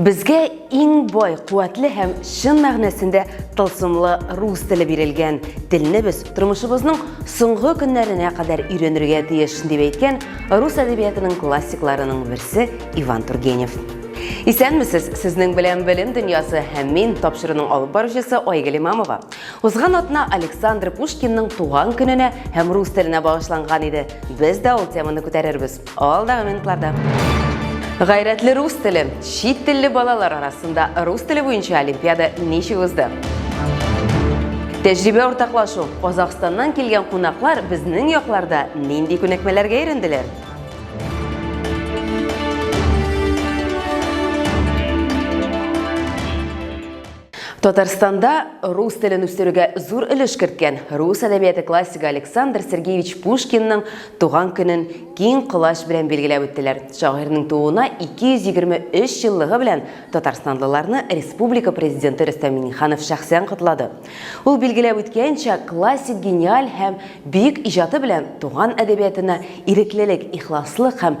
Безгә иң бай, куәтле һәм чын мәгънәсендә тылсымлы рус теле бирелгән. Телне без тормышыбызның соңгы көннәренә кадәр өйрәнергә тиеш, дип әйткән рус әдәбиятының классикларының берсе Иван Тургенев. Исәнмесез, сезнең белән белем дөньясы һәм мин тапшыруның алып баручысы Айгөл Имамова. Узган атна Александр Пушкинның туган көненә һәм рус теленә багышланган иде. Без дә ул теманы күтәрербез. Алдагы минутларда. Гайрәтле рус теле. Чит телле балалар арасында рус теле буенча олимпиада ничек узды? Тәҗрибә уртаклашу. Казахстаннан килгән кунаклар безнең якларда нинди күнекмәләргә өйрәнделәр? Татарстанда рус телен үстерүгә зур өлеш керткән рус әдәбияты классигы Александр Сергеевич Пушкинның туган көнен киң колач белән билгеләп үттеләр. Шагыйрьнең тууына 223 еллыгы белән татарстанлыларны республика президенты Рөстәм Миңнеханов шәхсән котлады. Ул билгеләп үткәнчә, классик гениаль һәм бөек иҗаты белән туган әдәбиятына иреклелек, ихласлык һәм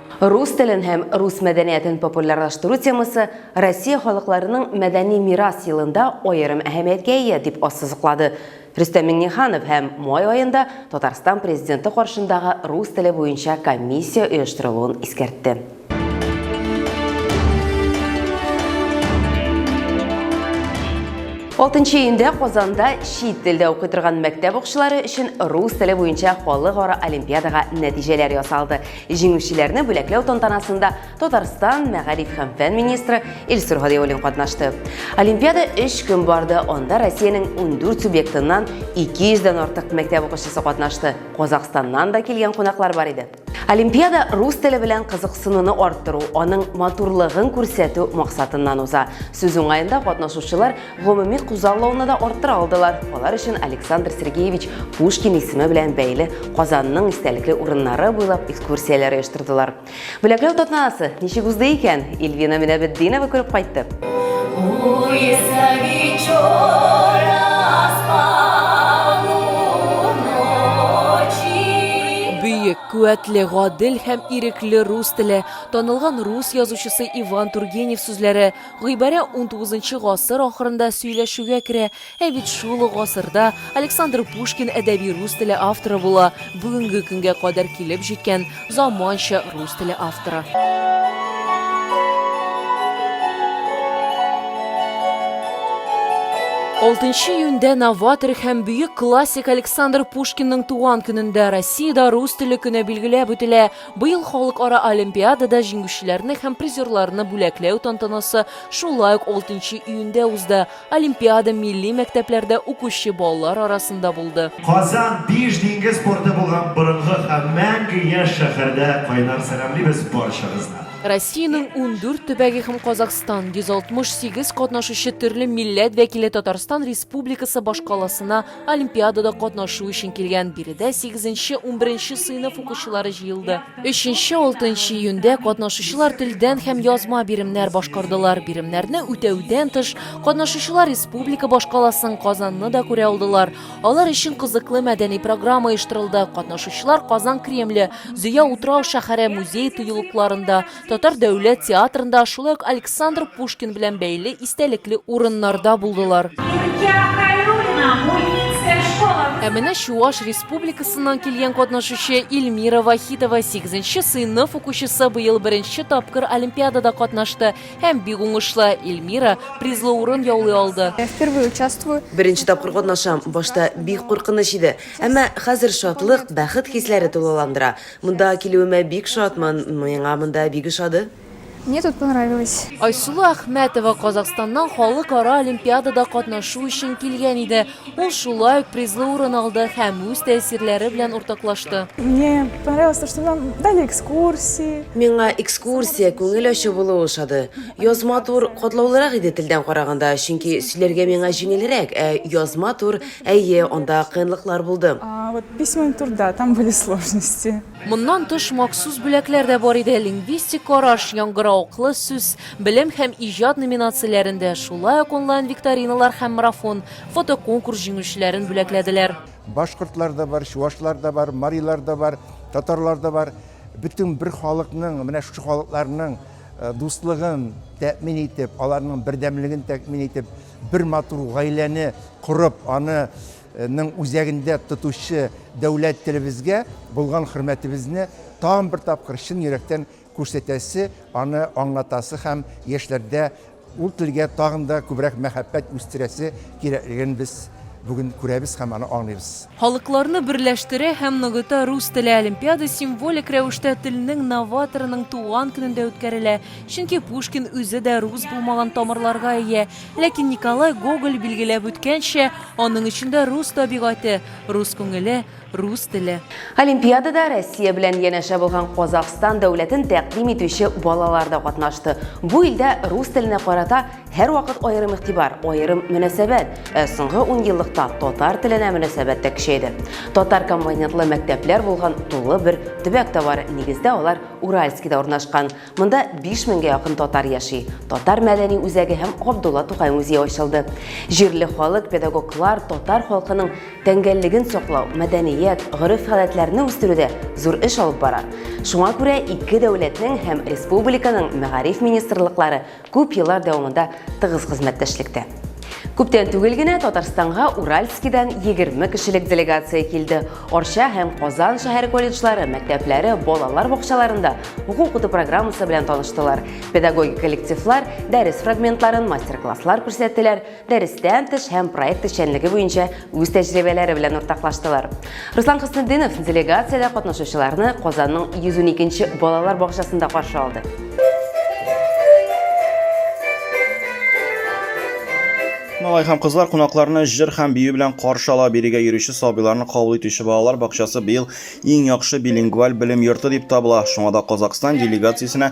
Рус телен һәм рус мәдәниятен популярлаштыру темасы Россия халыкларының мәдәни мирас елында аерым әһәмияткә ия, дип ассызыклады Рөстәм Миңнеханов һәм май аенда Татарстан Президенты каршындагы рус теле буенча комиссия оештырылуын искәртте. Алтынчы июньдә Казанда чит телдә укый торган мәктәп укучылары өчен рус теле буенча халыкара олимпиадага нәтиҗәләр ясалды. Җиңүчеләрне бүләкләү тантанасында Татарстан мәгариф һәм фән министры Илсур Һадиуллин катнашты. Олимпиада 3 көн барды, анда Россиянең 14 субъектыннан 200 дән артык мәктәп укучысы катнашты. Казахстаннан да килгән кунаклар бар иде. Олимпиада рус теле белән кызыксынуны арттыру, аның матурлыгын күрсәтү максатыннан уза. Сүз уңаенда катнашучылар гомуми күзаллауны да арттыра алдылар. Алар өчен Александр Сергеевич Пушкин исеме белән бәйле Казанның истәлекле урыннары буйлап экскурсияләр оештырдылар. Бүләкләү тантанасы ничек узды икән? Ильвина Минәбетдинова күреп кайтты. Бөек, куәтле, гадел һәм ирекле рус теле, танылган рус язучысы Иван Тургенев сүзләре Гыйбарә унтугызынчы гасыр ахырында сөйләшүгә керә, ә бит шул ук гасырда Александр Пушкин әдәби рус теле авторы була, бүгенге көнгә кадәр килеп җиткән заманча рус теле авторы. Алтынчы июньдә новатор һәм бөек классик Александр Пушкинның туган көнендә Россиядә рус теле көне билгеләп үтелә. Быел халыкара олимпиадада җиңүчеләрне һәм призерларны бүләкләү тантанасы шулай ук 6 июньдә узды. Олимпиада милли мәктәпләрдә укучы балалар арасында булды. Казан, биш диңгез порты булган борынгы һәм мәңге яшь шәһәрдә кайнар сәламлибез барчагызны! Россиянең ундүрт төбәге һәм Казахстан, 168 катнашучы төрле милләт вәкиле Татарстан Республикасы башкаласына Олимпиадада катнашу өчен килгән биредә сигезенче, унберенче сыйныф укучылары җыелды. Өченче, алтынчы июньдә катнашучылар телдән һәм язма биремнәр башкардылар. Биремнәрне үтәүдән тыш, катнашучылар республика башкаласын, Казанны да күрә алдылар. Алар өчен кызыклы мәдәни программа оештырылды. Катнашучылар Казан Кремле, Зөя утрау шәһәре, музей тыюлыкларында, Татар дәүләт театрында, шулай ук Александр Пушкин белән бәйле истәлекле урыннарда булдылар. Ә менә Чуаш республикасыннан килгән катнашучы Ильмира Вахитова 8 сыйныф укучысы быел беренче тапкыр олимпиадада катнашты һәм бик уңышлы. Ильмира призлы урын яулый алды. Беренче тапкыр катнашам. Башта бик куркыныч иде, әмма хәзер шатлык, бәхет хисләре тулыландыра. Монда килүемә бик шатмын, миңа монда бик ошады. Мне тут понравилось. Айсылу Әхмәтова Казахстаннан халыкара олимпиадада катнашу өчен килгән иде. Ул шулай ук призлы урын алды һәм үз тәэсирләре белән уртаклашты. Мне понравилось то, что нам дали экскурсии. Миңа экскурсия, күңел ачу булу ошады. Язма тур катлаулырак иде телдән караганда, чөнки сөйләргә миңа җиңелрәк, ә язма тур Әйе, анда кыенлыклар булды. А вот письменный трудта там были сложности. Моннан тыш махсус бүләкләр дә бар иде, лингвистик караш, яңгыравыклы сүз, белем һәм иҗат номинацияләрендә, шулай ук онлайн-викториналар һәм марафон, фотоконкурс җиңүчеләрен бүләкләделәр. Башкортлар да бар, чувашлар да бар, марилар да бар, татарлар да бар. Бөтен бер халыкның, менә шушы халыкларның дуслыгын тәэмин итеп, аларның бердәмлеген тәэмин итеп, Бер матур гаиләне корып, аның үзәгендә тотучы дәүләт телебезгә булган хөрмәтебезне тагын бер тапкыр чын йөрәктән күрсәтәсе, аны аңлатасы һәм яшьләрдә ул телгә тагын да күбрәк мәхәббәт үстерәсе кирәклеген без бүген күрәбез һәм аны аңлыйбыз. Халыкларны берләштерә һәм ныгыта Рус теле олимпиада символик рәвештә телнең новаторының туган көнендә үткәрелә, чөнки Пушкин үзе дә рус булмаган тамырларга ия, ләкин Николай Гоголь билгеләп үткәнчә, аның эчендә рус табигате, рус күңеле, рус теле. Олимпиадада Россия белән янәшә булган Казахстан дәүләтен тәкъдим итүче балалар да катнашты. Бу илдә рус теленә карата Һәрвакыт аерым игътибар, аерым мөнәсәбәт. Ә соңгы ун еллыкта татар теленә мөнәсәбәт тә көчәйде. Татар компонентлы мәктәпләр булган тулы бер төбәк тә бар, нигездә алар Уральскида урнашкан. Монда 5 меңгә якын татар яши. Татар мәдәни үзәге һәм Габдулла Тукай музее ачылды. Җирле халык, педагоглар татар халкының тәңгәллеген саклау, мәдәният, гореф-гадәтләрне үстерүдә зур эш алып бара. Шуңа күрә ике дәүләтнең һәм республиканың мәгариф министрлыклары Күп еллар дәвамында тыгыз хезмәттәшлектә. Күптән түгел генә Татарстанга Уральскидан 20 кешелек делегация килде. Арча һәм Казан шәһәр колледжлары, мәктәпләре, балалар бакчаларында уку укыту программасы белән таныштылар. Педагогик коллективлар дәрес фрагментларын, мастер-класслар күрсәттеләр. дәрестән тыш һәм проект эшчәнлеге буенча үз тәҗрибәләре белән уртаклаштылар. Руслан Хөснетдинов делегациядә катнашучыларны Казанның 112-нче балалар бакчасында каршы алды. Малай һәм кызлар кунакларны җыр һәм бию белән каршы ала. Бирегә йөрүче сабыйларны кабул итүче балалар бакчасы быел иң яхшы билингваль белем йорты дип табыла. Шуңа да Казакъстан делегациясенә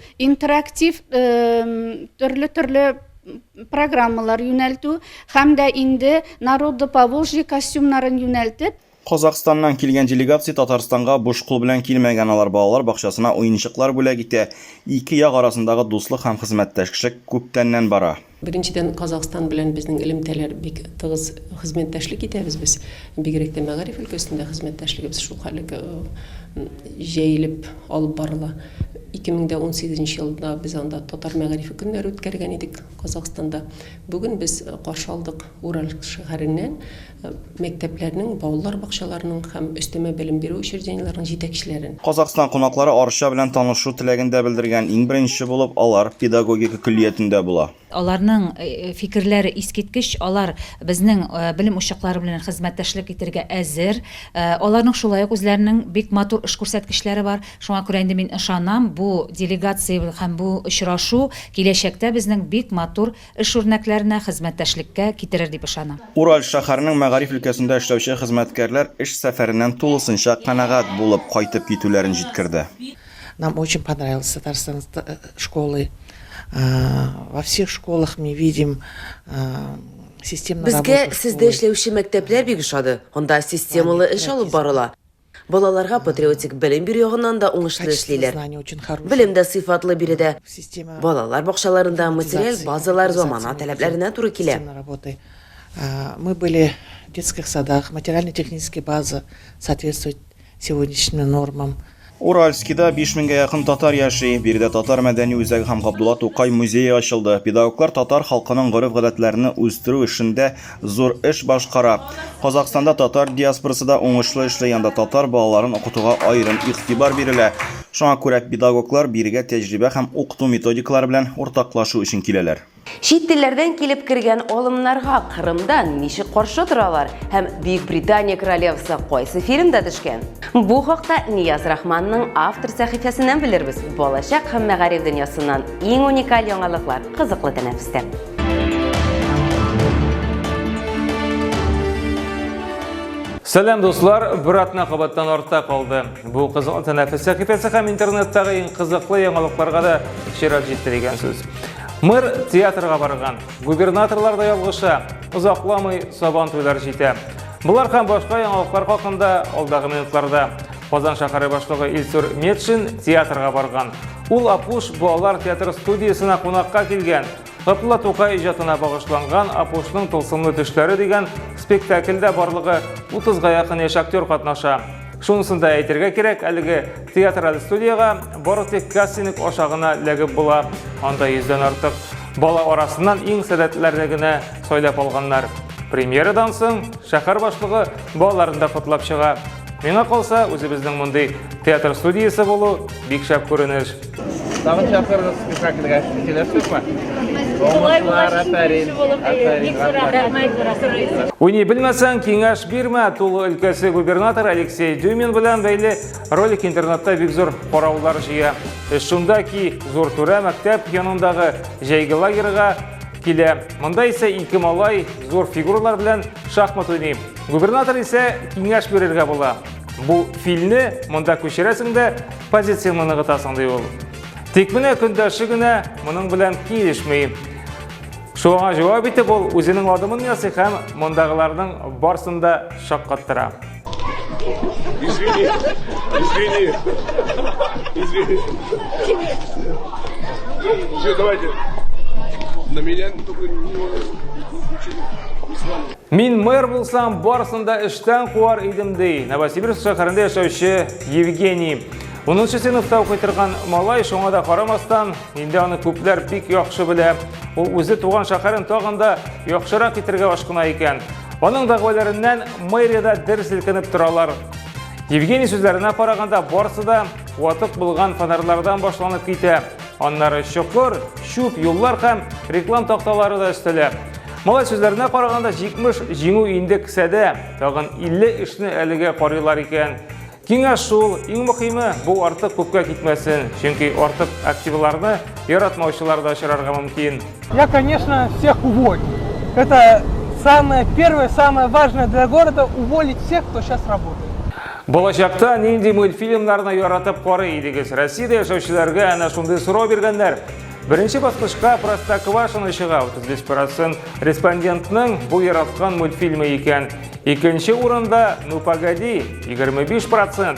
интерактив төрле-төрле программалар юнәлтү һәм дә инде народы поволжье костюмнарын юнәлтеп Казахстаннан килгән делегация Татарстанга буш кул белән килмәгән алар балалар бакчасына уенчыклар бүләк итә. Ике як арасындагы дуслык һәм хезмәттәшлек күптәннән бара. Беренчедән, Казахстан белән безнең элемтәләр бик тыгыз хезмәттәшлек итәбез без. Бигрәк тә мәгариф өлкәсендә хезмәттәшлегебез шул хәллек җәелеп алып барыла. 2018 нче елда без анда Татар мәгарифе көннәре үткәргән идек Казахстанда. Бүген без каршы алдык Уральск шәһәреннән мәктәпләрнең, балалар бакчаларының һәм өстәмә белем бирү учреждениеләренең җитәкчеләрен. Казакъстан кунаклары Арча белән танышу теләген дә белдергән, иң беренче булып алар педагогика көллиятендә була. Аларның фикерләре искиткеч, алар безнең белем учаклары белән хезмәттәшлек итәргә әзер. Аларның шулай ук үзләренең бик матур эш күрсәткечләре бар. Шуңа күрә инде мин ышанам, бу делегация һәм бу очрашу киләчәктә безнең бик матур Эш үрнәкләренә, хезмәттәшлеккә китерер дип ышана. Ураль шәһәренең мәгариф өлкәсендә эшләүче хезмәткәрләр эш сәфәреннән тулысынча канәгать булып кайтып китүләрен җиткерде. Нам очень понравилось Татарстан школы во всех школах мы видим системно работу школы. Безгә сездә эшләүче мәктәпләр бик ошады, анда системалы эш алып барыла. Балаларга патриотик белем бирү ягыннан да уңышлы эшлиләр. Белем дә сыйфатлы биредә. Балалар бакчаларында материаль базалар замана таләпләренә туры килә. Мы были в детских садах, материально-техническая база соответствует сегодняшним нормам. Уральскида биш меңгә якын татар яши. Биредә татар мәдәни үзәге һәм Габдулла Тукай музее ачылды. Педагоглар татар халкының гореф-гадәтләрне үстерү эшендә Зур эш башкара. Казахстанда татар диаспорасы да уңышлы эшли, анда татар балаларын укытуга аерым игътибар бирелә. Шуңа күрә педагоглар бирегә тәҗрибә һәм укыту методикалары белән уртаклашу өчен киләләр. Чит телләрдән килеп кергән алымнарга Кырымда ничек каршы торалар һәм Бөекбритания Королевасы кайсы фильмда төшкән? Бу хакта Нияз Рахманның автор сәхифәсеннән белербез. Балачак һәм мәгариф дөньясыннан иң уникаль яңалыклар кызыклы тәнәфестә. Сәләм дуслар, бер атна кабаттан артта калды. Бу кызыл тәнәфес сәхифәсе һәм интернеттагы иң кызыклы яңалыкларга да чират җитте дигән сүз. Мэр театрга барган, губернаторлар да ялгыша, озакламый сабан туйлар җитә. Булар һәм башка яңалыклар хакында алдагы минутларда. Казан шәһәре башлыгы Илсур Метшин театрга барган. Ул Апуш балалар театр студиясенә кунакка килгән. Габдулла Тукай иҗатына багышланган Апушның тылсымлы төшләре дигән спектакльдә барлыгы 30-га якын яшь актер катнаша. Шунысын да әйтергә кирәк, әлеге театраль студиягә бары тик кастинг аша гына ләгеп була. Анда йөздән артык бала арасыннан иң сәләтләрне генә сайлап алганнар. Премьерадан соң шәһәр башлыгы балаларны да котлап чыга. Миңа калса, үзебезнең мондый театр студиясе булу бик шәп күренеш. Тагын чакырырыз спектакльгә. Киләсезме? Уңышлар, әфәрин. Уйный белмәсәң, киңәш бирмә. Тулы өлкәсе губернатор Алексей Дюмин белән бәйле ролик интернетта бик зур караулар җыя. Эш шунда ки, зур түрә мәктәп янындагы җәйге лагерьга килә. Монда исә ике малай зур фигуралар белән шахмат уйный. Губернатор исә киңәш бирергә була. Бу филне монда күчерәсең дә позицияңне ныгытасың ди ул. Тик менә көндәше генә моның белән килешми. Шуңа җавап итеп ул үзенең адымын ясый һәм мондагыларның барсын да шаккаттыра. Извини. Извини. Извини. Все, давайте. На меня только не Мин мэр булсам, барысын да эштән куар идем, ди Новосибирск шәһәрендә яшәүче Евгений. 10 сыйныфта укый торган малай шуңа да карамастан, инде аны күпләр бик яхшы белә. Ул үзе туган шәһәрен тагын да яхшырак итәргә ашкына икән. Аның дәгъваларыннан мэриядә дер селкенеп торалар. Евгений сүзләренә караганда, барысы да ватык булган фонарьлардан башланып китә. Аннары чокыр, чүп, юллар һәм реклам такталары да өстәлә. Малай сүзләренә караганда 70 җиңү инде кесәдә, тагын 50 эшне әлегә карыйлар икән. Киңәш шул, иң мөхиме бу артык күпкә китмәсен, чөнки артык активларны яратмаучылар да очрарга мөмкин. Я, конечно, всех уволю. Это самое первое, самое важное для города – уволить всех, кто сейчас работает. Балачакта нинди мультфильмнарны яратып карый идегез? Россияда яшәүчеләргә әнә шундый сорау биргәннәр. Беренче баскычка Простоквашино чыга. 35% респондентның бу яраткан мультфильмы икән. Икенче урында Ну погоди 25%.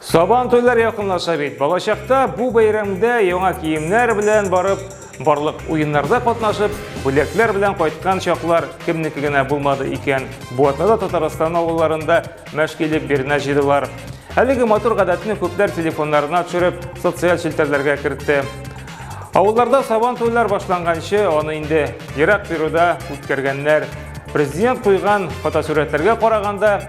Сабан туйлар якынлаша бит. Балачакта бу бәйрәмдә яңа киемнәр белән барып, барлык уеннарда катнашып, бүләкләр белән кайткан чаклар кемнеке генә булмады икән. Бу атнада Татарстан авылларында мәшкилек биренә җыйдылар. Әлеге матур гадәтне күпләр телефоннарына төшереп, социаль челтәрләргә кертте. Авылларда сабан туйлар башланганчы, аны инде ерак тируда үткәргәннәр. Президент куйган фотосурәтләргә караганда,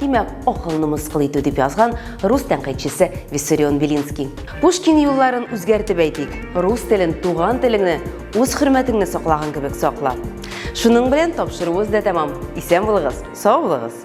Димәк, акылны мыскыл итү дип язган рус тәнкыйтьчесе Виссарион Белинский. Пушкин юлларын үзгәртеп әйтик, рус телен, туган телеңне, үз хөрмәтеңне саклаган кебек сакла. Шуның белән тапшыруыбыз да тәмам. Исән булыгыз, сау булыгыз.